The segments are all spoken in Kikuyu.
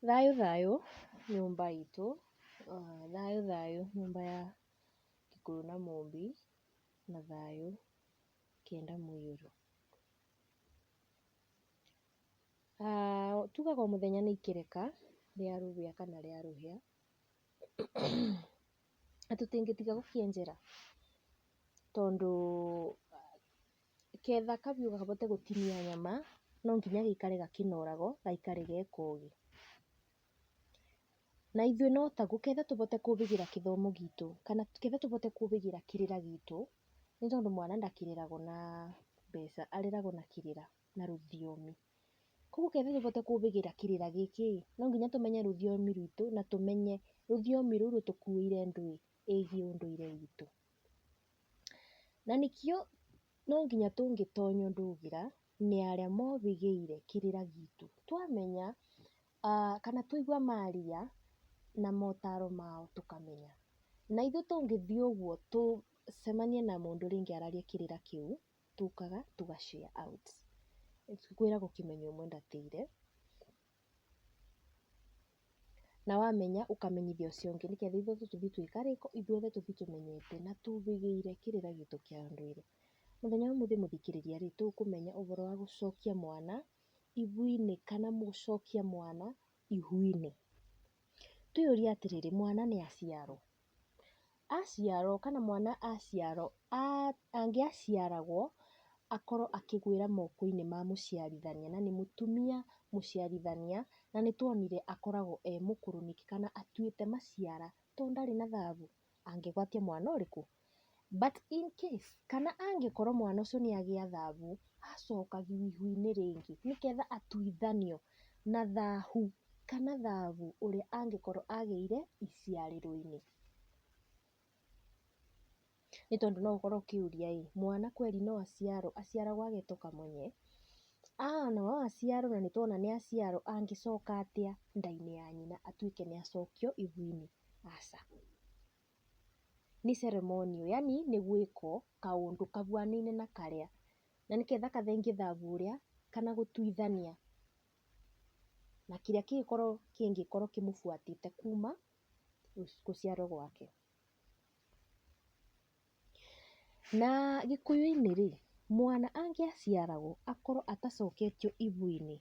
Thayũ thayũ nyũmba itũ, thayũ thayũ nyũmba ya Gĩkũyũ na Mũmbi, na thayũ kenda mũiyũro. Tugaga o mũthenya nĩ ikereka rĩa rũgĩa kana rĩa rũhĩa, na tũtingĩtiga gũkĩenjera tondũ Getha kabiũ kahote gũtinia nyama, no nginya gaikare gakĩnorago, gaikare ge kogĩ. Na ithuĩ no taguo, getha tũhote kũgĩra gĩthomo gitũ, kana getha tũhote kũgĩra kĩrĩra gitũ, nĩ tondũ mwana ndareragwo na mbeca, areragwo na kĩrĩra, na rũthiomi. Koguo getha tũhote kũgĩra kĩrĩra gĩkĩ ĩ, no nginya tũmenye rũthiomi rwitũ, na tũmenye rũthiomi rũu rũtũkuĩire ndũĩ, ĩgiĩ ũndũire witũ. Na nĩkĩo no nginya tũngĩtonya ũndũ ũgĩra nĩ arĩa mohĩgĩire kĩrĩra gitũ. Twamenya kana twaigua maria na motaro mao tũkamenya. Na ithuĩ tũngĩthiĩ ũguo tũcemanie na mũndũ rĩngĩ araria kĩrĩra kĩu, tũkaga tũga share out. Kwĩragwo kĩmenyo ũmwe ndatĩire. Na wamenya ũkamenyithia ũcio ũngĩ nĩ getha ithuothe tũthiĩ twĩka rĩ, ithuothe tũthiĩ tũmenyete na tũgĩgĩire kĩrĩra gitũ kĩa ũndũire. Mũthenya wa ũmũthĩ mũthikĩrĩria rĩ, tũkũmenya ũboro wa gũcokia mwana ibu-inĩ kana gũcokia mwana ihu-inĩ. Twĩyũrie atĩrĩrĩ, mwana nĩ aciarwo? Aciarwo kana mwana aciarwo, angĩaciaragwo akorwo akĩgũĩra moko-inĩ ma mũciarithania, na nĩ mũtumia mũciarithania, na nĩ tuonire akoragwo e mũkũrũ nĩkĩ kana atuĩte maciara, tondũ ndarĩ na thahabu, angĩgwatia mwana ũrĩkũ? But in case kana angĩkorwo mwana ũcio nĩ agĩa thahu, acokagio ihu-inĩ rĩngĩ nĩ getha atuithanio na thahu kana thahu ũrĩa angĩkorwo agĩire iciarĩro-inĩ. Nĩ tondũ no ũkorwo ũkĩũria ĩ, mwana kweri no aciarwo, aciaragwo agetwo kamonye? Aa na no aciarwo na nĩ tũrona nĩ aciarwo, angĩcoka atĩa nda-inĩ ya nyina atuĩke nĩ acokio ihu-inĩ? Aca. nĩ ceremonial yaani nĩ gwĩkwo kaũndũ kahuanaine na karĩa na nĩgetha gathengie thabu ũrĩa kana gũtuithania na kĩrĩa kĩngĩkorwo kĩmũbuatĩte kuma gũciarwo gwake. Na gĩkũyũ-inĩ rĩ, mwana angĩaciaragwo akorwo atacoketio ihu-inĩ,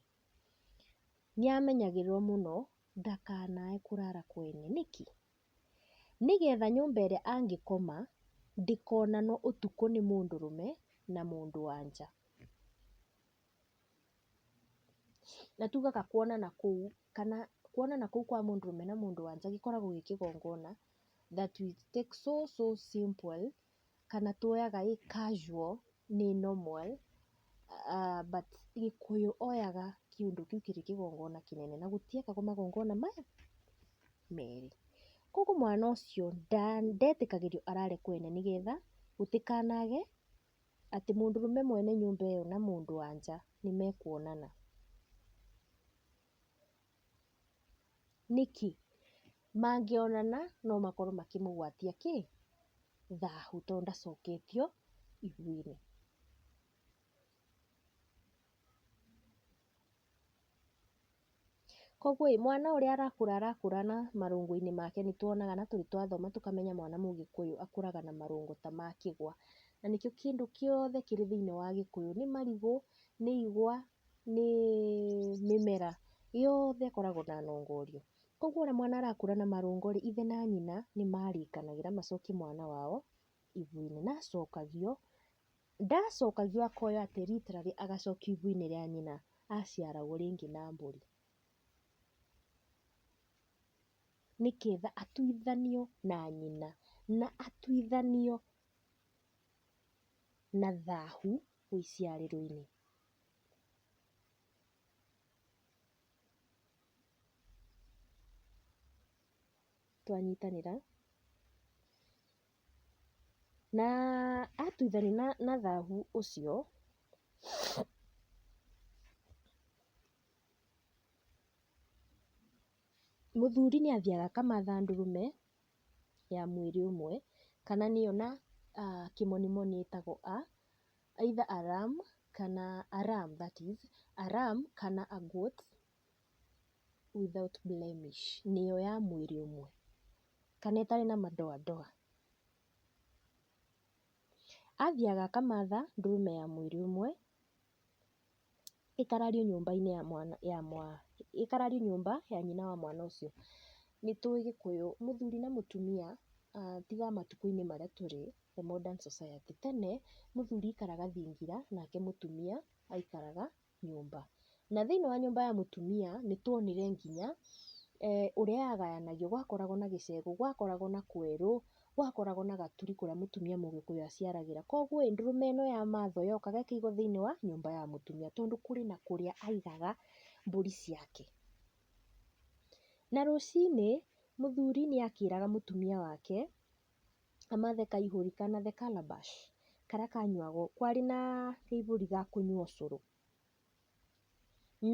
nĩ amenyagĩrĩrwo mũno ndakanae kũrara kwene. Nĩkĩ? nĩgetha nyũmba ĩrĩa angĩkoma ndĩkonanwo ũtukũ nĩ mũndũrũme na mũndũ wa nja. Na tugaga kuonana kũu kana kuonana kũu kwa mũndũrũme na mũndũ wa nja gĩkoragwo gĩ kĩgongona that we take so so simple kana tuoyaga ĩ casual nĩ normal but gĩkũyũ oyaga kĩũndũ kĩu kĩrĩ kĩgongona kĩnene na gũtiekagwo magongona maya merĩ. Koguo mwana ũcio ndetĩkagĩrio arare kwene nĩ getha gũtikanagĩe atĩ mũndũrũme mwene nyũmba ĩyo na mũndũ wa nja nĩ mekuonana. Nĩkĩ? Mangĩonana no makorwo makĩmũgwatia kĩ? Thahu tondũ ndacoketio ithiĩni. Koguo ĩ, mwana ũrĩa arakũra arakũra na marũngũ-inĩ make nĩ tuonaga na tũrĩ twathoma tũkamenya mwana mũgĩkũyũ akũraga na marũngũ ta ma kĩgwa. Na nĩkĩo kĩndũ gĩothe kĩrĩ thĩiniĩ wa gĩkũyũ, nĩ marigũ, nĩ igwa, nĩ mĩmera yothe ĩkoragwo na nongoria. Koguo ona mwana arakũra na marũngo rĩ, ithe na nyina nĩ marĩkanagĩra macokie mwana wao ibu-inĩ. Na acokagio, ndacokagio akoya atĩ literally agacokio ibu-inĩ rĩa nyina aciaragwo rĩngĩ na mbũri. Nĩgetha atuithanio na nyina na atuithanio na thahu. ũiciarĩro-inĩ. Twanyitanĩra na atuithania na thahu ũcio, mũthuri nĩ athiaga akamatha ndũrũme. ya mwĩrĩ ũmwe, kana nĩyo na kĩmonimoni ĩtagwo a, either a ram kana a ram that is, a ram kana a goat without blemish nĩyo ya mwĩrĩ ũmwe, kana ĩtarĩ na madoadoa. Athiaga akamatha ndũrũme ya mwĩrĩ ũmwe. ĩkarario nyũmba-inĩ ya mwana ya mwa ĩkarario nyũmba ya nyina wa mwana ũcio. Nĩ tũĩ gĩkũyũ mũthuri na mũtumia tiga matukũ-inĩ marĩa tũrĩ the modern society. Tene mũthuri aikaraga thingira nake mũtumia aikaraga nyũmba. Na thĩiniĩ wa nyũmba ya mũtumia nĩ twonire nginya ũrĩa yagayanagio gwakoragwo na gĩcegũ, gwakoragwo na kwerũ, gwakoragwo na gaturi kũrĩa mũtumia mũgĩkũyũ aciaragĩra. Koguo ĩĩ, ndũrũme ĩno ya mathai yokaga ĩkaigwo thĩiniĩ wa nyũmba ya mũtumia tondũ kũrĩ na kũrĩa aigaga mbũri ciake. Na rũcinĩ, mũthuri nĩ akĩraga mũtumia wake amathe kaihũri kana the calabash karĩa kanyuagwo, kwarĩ na kaihũri ga kũnyua ũcũrũ.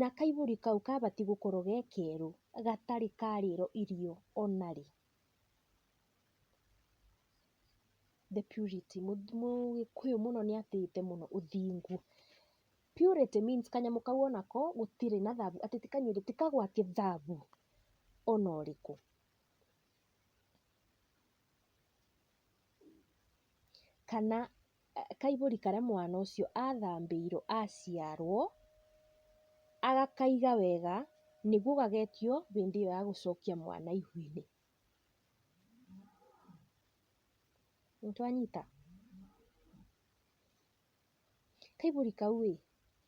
Na kaihũri kau kabatiĩ gũkorwo ge kerũ gatarĩ karĩrwo irio ona rĩ. The purity mũgĩkũyũ mũno nĩ atĩĩte mũno ũthingu. Purity means kanyamũ kau o nako gũtirĩ na thabu, atĩ ti kanyuĩrĩrĩ, ti kagwati thabu o na ũrĩkũ. Kana... kaihũri karĩa mwana ũcio athambĩirwo aciarwo, agakaiga wega nĩguo gagetio hĩndĩ ĩyo ya gũcokia mwana ihu-inĩ. Nĩtwanyita? Kaihũri kau ĩ,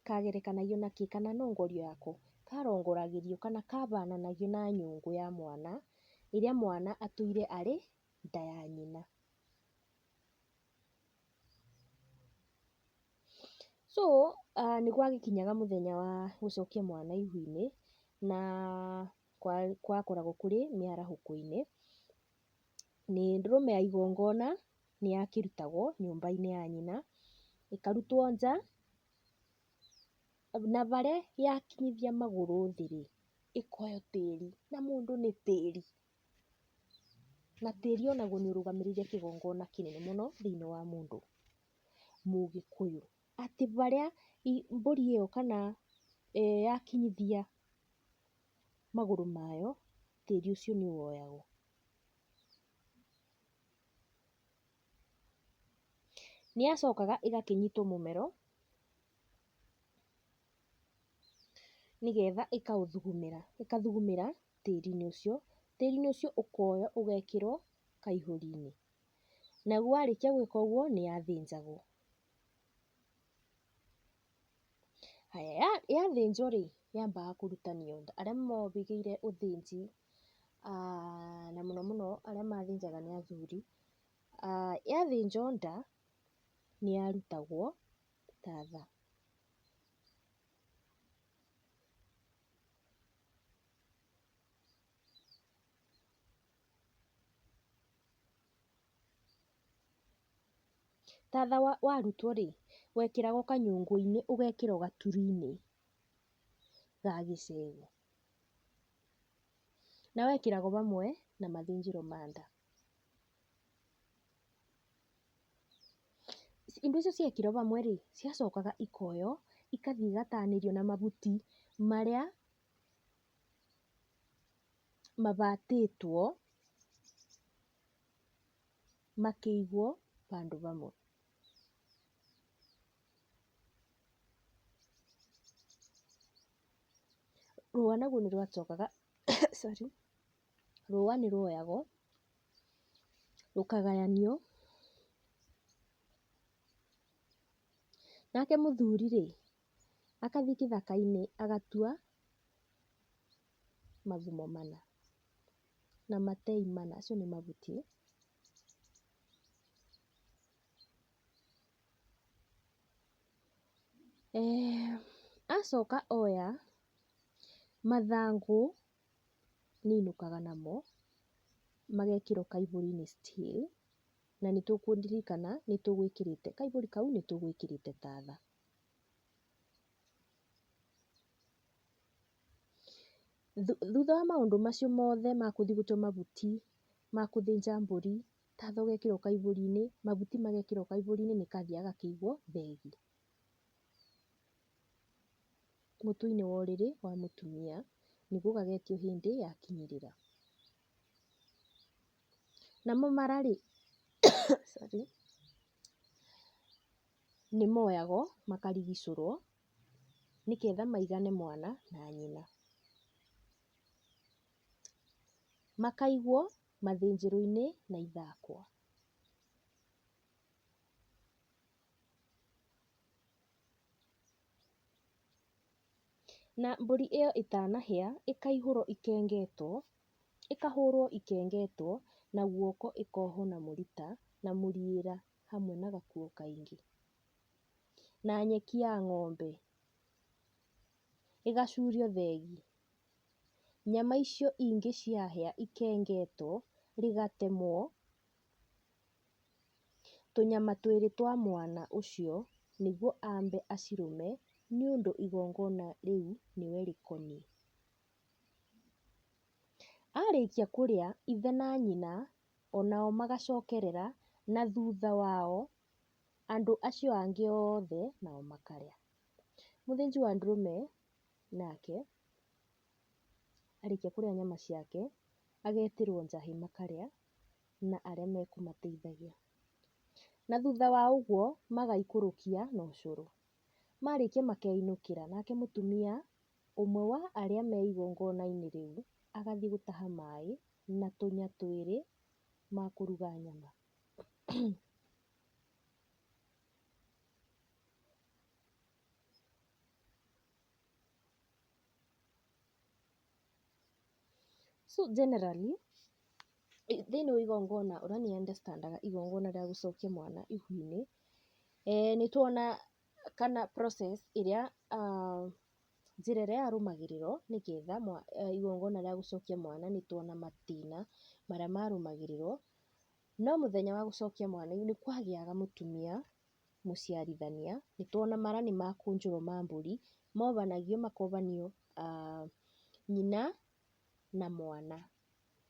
kagerekanagio na kĩ kana nongorio yako? Karongoragĩrio kana kahananagio na nyũngũ ya mwana, ĩrĩa mwana atũire arĩ nda ya nyina. So nĩ gwagĩkinyaga mũthenya wa gũcokia mwana ihu-inĩ, na gwakoragwo kũrĩ mĩarahũko-inĩ, nĩ ndũrũme ya igongona nĩ yakĩrutagwo nyũmba-inĩ ya nyina, ĩkarutwo nja, na harĩa yakinyithia magũrũ thĩ rĩ, ĩkoywo tĩri, na mũndũ nĩ tĩri. Na tĩri o naguo nĩ ũrũgamĩrĩire kĩgongona kĩnene mũno thĩiniĩ wa mũndũ mũgĩkũyũ. Atĩ harĩa mbũri ĩyo kana yakinyithia magũrũ mayo, tĩri ũcio nĩ woyagwo. Nĩ yacokaga ĩgakĩnyitwo mũmero. nĩgetha ĩkaũthugumĩra, ĩkathugumĩra tĩri-inĩ ũcio, tĩri-inĩ ũcio ũkoywo ũgekĩrwo kaihũri-inĩ, naguo warĩkia gwĩka ũguo nĩ yathĩnjagwo. Haya, yathĩnjwo rĩ, yambaga kũrutanio nda, arĩa mohĩgĩire ũthĩnji na mũno mũno arĩa mathĩnjaga nĩ athuri, yathĩnjwo nda nĩ yarutagwo. ta tha. Ta tha warutwo rĩ, wekĩraga kanyũngũ-inĩ ũgekĩra o gaturi-inĩ ga gĩcegũ. Na wekĩraga o hamwe na mathĩnjĩro ma nda. Indo icio ciekĩrwo hamwe rĩ, ciacokaga ikoywo igathiĩ igatanĩrio na mahuti marĩa mahatĩtwo makĩigwo handũ hamwe. Rũa naruo nĩ rwacokaga sorry. rũa nĩ rwoyagwo, rũkagayanio, nake mũthuri rĩ, agathiĩ gĩthaka-inĩ agatua magumo mana na matei mana, acio nĩ mahuti, eeh acoka oya mathangũ. nĩainũkaga namo, magekĩrwo kaihũri-inĩ still, na nĩ tũkũririkana nĩ tũgwĩkĩrĩte, kaihũri kau nĩ tũgwĩkĩrĩte ta tha. Thutha wa maũndũ macio mothe ma gũthiĩ gũtua mahuti, ma gũthĩnja mbũri, ta tha ũgekĩrwo kaihũri-inĩ, mahuti magekĩrwo kaihũri-inĩ, nĩ kathiaga gakaigwo thenge. mũtwe-inĩ wa ũrĩrĩ wa mũtumia, nĩguo gagetio hĩndĩ yakinyĩrĩra. Namo mara rĩ, sorry, nĩ moyagwo makarigicũrwo nĩgetha maigane mwana na nyina. Makaigwo mathĩnjĩro-inĩ na ithakwa. Na mbũri ĩyo ĩtanahĩa, ĩkaihũrwo ĩkengetwo, ĩkahũrwo ĩkengetwo na guoko ĩkohwo na mũrita na mũriĩra hamwe na gakuo kaingĩ, na nyeki ya ng'ombe, ĩgacurio thegi. Nyama icio ingĩ ciahĩa ikengetwo, rĩgatemwo. tũnyama twĩrĩ twa mwana ũcio nĩguo ambe acirũme nĩ ũndũ igongona rĩu nĩwe rĩkoniĩ. Arĩkia kũrĩa ithe na nyina onao magacokerera na thutha wao andũ acio angĩ othe nao makarĩa. Mũthĩnji wa ndũrũme nake arĩkia kũrĩa nyama ciake agetĩrwo njahĩ makarĩa na arĩa mekũmateithagia. Na thutha wa ũguo magaikũrũkia na ũcũrũ. Marĩkia makeinũkĩra, nake mũtumia ũmwe wa arĩa me igongona-inĩ rĩu agathiĩ gũtaha maĩ na tũnya twĩrĩ ma kũruga nyama. So generally, thĩinĩ wa igongona ũrĩa niĩ understand aga igongona rĩa gũcokia mwana ihu-inĩ, nĩ tuona kana process ĩrĩa, njĩra ĩrĩa yarũmagĩrĩrwo nĩ getha igongona rĩa gũcokia mwana nĩ tuona matina marĩa marũmagĩrĩrwo. No mũthenya wa gũcokia mwana nĩ kwagĩaga mũtumia mũciarithania, nĩ tuona mara nĩ makũnjũrwo ma mbũri, mobanagio makobanio nyina na mwana.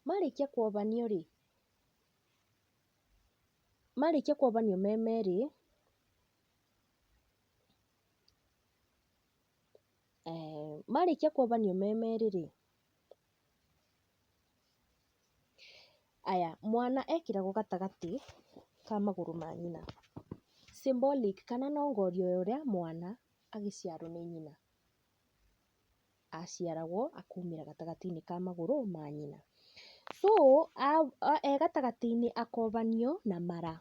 Marĩkia kobanio rĩ, marĩkia kobanio me merĩ, marĩkia kobanio me merĩ rĩ, Aya, mwana ekĩragwo gatagatĩ ka magũrũ ma nyina, symbolic kana nongoria ya ũrĩa mwana agĩciarwo nĩ nyina, aciaragwo akaumĩra gatagatĩ-inĩ ka magũrũ ma nyina. So e gatagatĩ-inĩ akobanio na mara.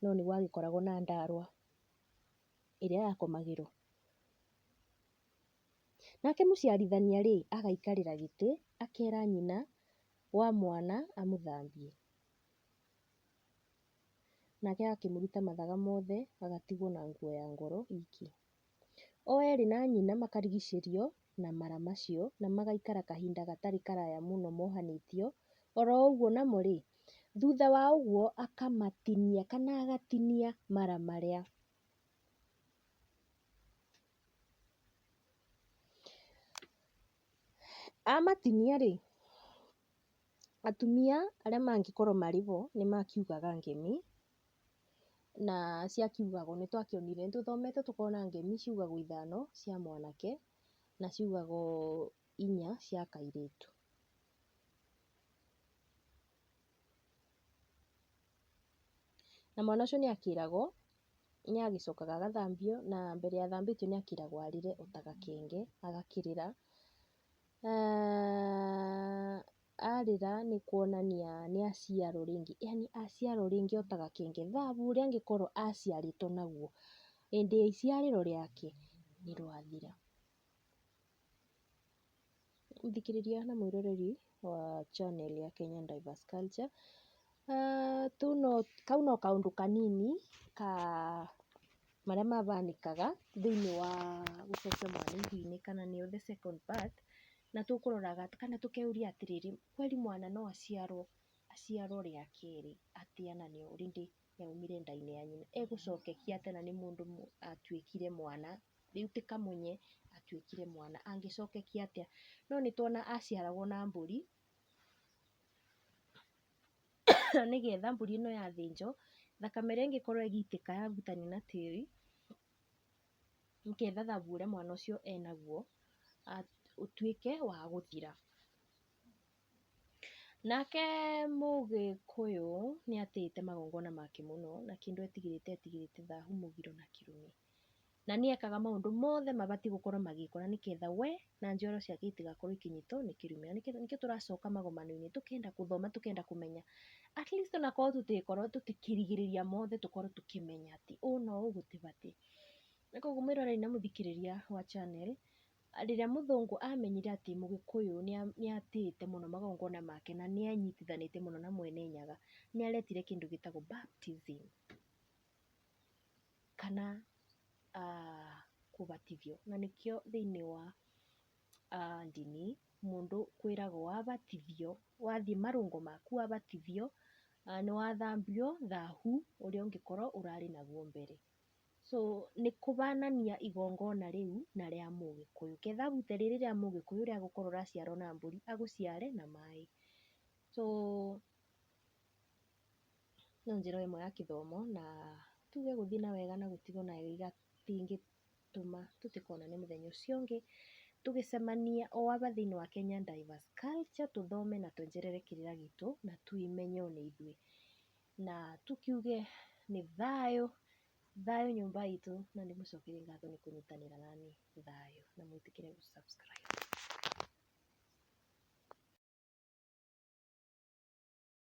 No nĩguo agĩkoragwo na ndaarwa. ĩrĩa yakomagĩrwo. Nake mũciarithania rĩ, agaikarĩra gĩtĩ, akera nyina wa mwana amũthambie. Nake agakĩmũruta mathaga mothe, agatigwo na nguo ya ngoro iki. O erĩ na nyina makarigicĩrio na mara macio, na magaikara kahinda gatarĩ karaya mũno mohanĩtio, oro ũguo namo-rĩ, thutha wa ũguo akamatinia kana agatinia mara marĩa. Amatinia-rĩ, atumia arĩa mangĩkorwo marĩ ho nĩmakiugaga ngemi. na cia kiugagwo nĩ twakĩonire, nĩ tũthomete tũkona ngemi ciugagwo ithano cia mwanake na ciugagwo inya cia kairĩtu. Na mwana ũcio nĩ akĩragwo nĩ agĩcokaga agathambio na mbere ya athambĩtio nĩ akĩragwo arĩre o ta gakenge agakĩrĩra. arĩra nĩ kuonania nĩ aciarwo rĩngĩ, yaani aciarwo rĩngĩ o ta gakenge, thahabu ũrĩa angĩkorwo aciarĩtwo naguo hĩndĩ ya iciarĩro rĩake nĩ rwathira. Mũthikĩrĩria na mwĩroreri wa channel ya Kenyan Diverse Culture, kau no kaũndũ kanini ka marĩa mahanĩkaga thĩiniĩ wa gũcenjia mwana ihu-inĩ kana nĩyo the second birth. na tũkũroraga kana tũkeyũria atĩrĩrĩ, kweri mwana no aciarwo aciarwo rĩa kerĩ atĩa na nĩ ũrĩ ndĩ yaumire nda-inĩ ya nyina? Egũcokekia atĩa na nĩ mũndũ atuĩkire mwana, rĩu ti kamunye atuĩkire mwana, angĩcokekia atĩa? No nĩ tuona aciaragwo na mbũri, na nĩ getha mbũri ĩno yathĩnjwo, thakame ĩrĩa ĩngĩkorwo ĩgĩitĩka ya hutania na tĩri, nĩgetha thabu ũrĩa mwana ũcio enaguo ũtuĩke wa gũthira. Nake mũgĩkũyũ nĩ atĩĩte magongona make mũno na kĩndũ etigĩrĩte etigĩrĩte thahu, mũgiro na kĩrumi. Na nĩ ekaga maũndũ mothe mabatiĩ gũkorwo magĩkwo na nĩgetha we na njoro ciake itigakorwo ikinyitwo nĩ kĩrumĩro nĩkĩo nĩkĩo tũracoka magomano-inĩ tũkenda gũthoma tũkenda kũmenya at least onakorwo tũtikorwo tũtikĩrigĩrĩria mothe tũkorwo tũkĩmenya atĩ ũũ na ũũ gũtibatiĩ na koguo mwĩroreri na mũthikĩrĩria wa channel rĩrĩa mũthũngũ amenyire atĩ mũgĩkũyũ nĩa- nĩatĩĩte mũno magongona make na nĩenyitithanĩtie mũno na mwene nyaga nĩaretire kĩndũ gĩtagwo baptism kana kũbatithio. Na nĩkĩo thĩinĩ wa ndini mũndũ kwĩragwo wabatithio, wathiĩ marũngo maku wabatithio, nĩ wathambio thahu ũrĩa ũngĩkorwo ũrarĩ naguo mbere. So nĩ kũbanania igongona rĩu na rĩa mũgĩkũyũ. Ke thabu ta rĩrĩ rĩa mũgĩkũyũ rĩa gũkorwo ũraciarwo na mbũri agũciare na maĩ. So... no njĩra ĩmwe ya kĩthomo na tuge gũthiĩ na wega na gũtigwo na wega tingĩtũma tũtikonane mũthenya ũcio ũngĩ tũgĩcemania o aba thĩinĩ wa Kenya Divers Culture tũthome na tuongerere kĩrĩra gitũ na twĩmenye o na ithuĩ na tũkiuge nĩ thayũ, thayũ nyũmba itũ na ndĩmũcokerie ngatho nĩ kũnyitanĩra na niĩ. Thayũ na mwĩtĩkĩre gũ subscribe.